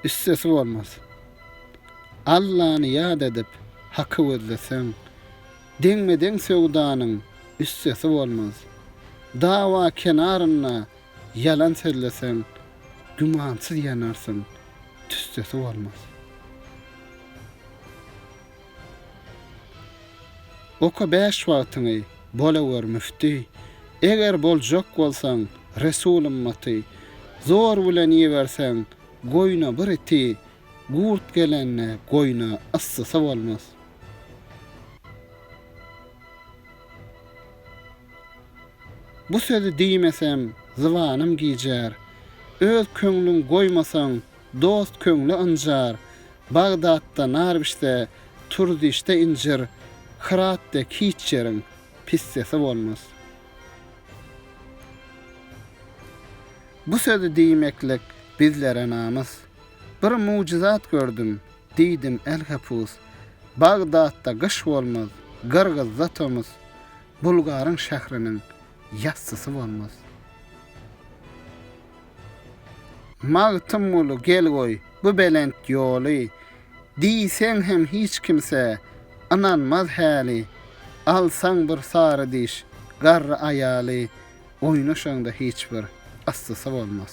Üstesi bolmaz. Allany ýat edip, Haky gözleseň, deňme-deň söwdanyň üstesi bolmaz. Dawa kenarynda ýalan sözleseň, gümansyz ýanarsyň, tüssesi bolmaz. Oka bäş wagtyňy, bolawer müfti, Eger boljak bolsaň, resul ymmaty. Zor bilen iýiberseň, goýna bir iti, Gurt gelende, goýna yssysy bolmaz. Bu sözi diýmesem, zybanym gijär, Öz köňlüň goýmasaň, Dost köňli ynjar, Bagdatda nar bişse, Turdişde injir, Hyrat dek hiç ýeriň pissesi bolmaz. Bu sözi diýmeklik bizlere namys. Bir mujyzat gördüm, diýdim elhepus, Bagdatda gyş bolmaz, Gyrgyzda tomus, Bulgaryň şähriniň Ýassysy bolmaz. Magtymguly gel goý bu belent ýoly, Diýseň hem hiç kimse ynanmaz häli. Alsaň bir sary diş garry aýaly, Oýnaşaňda hiç bir yssysy bolmaz.